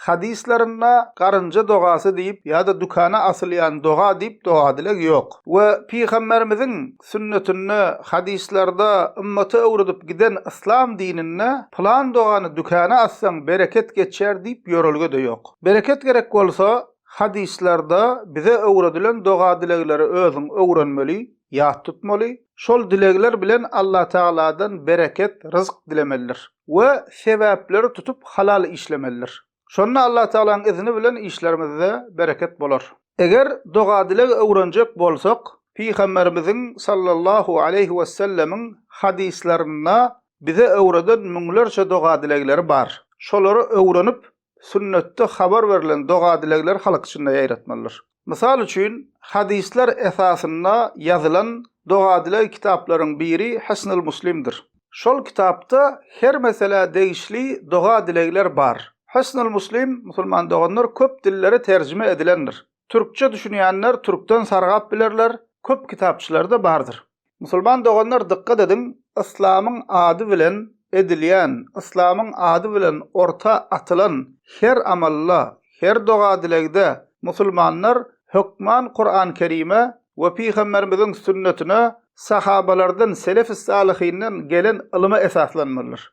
Hadyslarynda garynja dogasy diýip ýa-da dükana asylýan doga diýip doga-dileg ýok. We Pygamberimiziň sünnetinde, hadyslarda, ymmaty öwredip giden yslam dininde pylan dogany dükana assaň bereket geçer diýip ýörelge-de ýok. Bereket gerek bolsa, hadyslarda bize öwredilen doga-dilegleri özüň öwrenmeli, ýat tutmaly, şol dilegler bilen Allatagaladan bereket, ryzk dilemelidir. we sebäpleri tutup halal işlemelidir. Şonda Allatagalaň izni bilen işlerimizde bereket bolar. Eger doga-dileg öwrenjek bolsak, Pygamberimiziň sallallahu aleýhi wesellemiň hadyslarynda bize öwreden müňlerçe doga-dilegleri bar. Şolary öwrenip, Sünnetde habar berlen doga-dilegleri halk içinde ýaýratmalydyr. Mysal üçin, hadyslar esasynda ýazylan doga-dileg kitaplaryň biri Hisnul Muslimdir. Şol kitapda her meselä degişli doga-dilegler bar. Hisnul Muslim, musulman doganlar, köp dillere terjime edilendir. Türkçe düşünýänler türkden sargap bilerler, köp kitapçylarda bardyr. Musulman doganlar dykgat ediň, yslamyň ady bilen edilýän, yslamyň ady bilen orta atylan her amalda, her doga-dilegde musulmanlar hökman Kuran Kerime we Pygamberimiziň sünnetine, sahabalardan, selefi-salyhinden gelen ylyma esaslanmalydyr.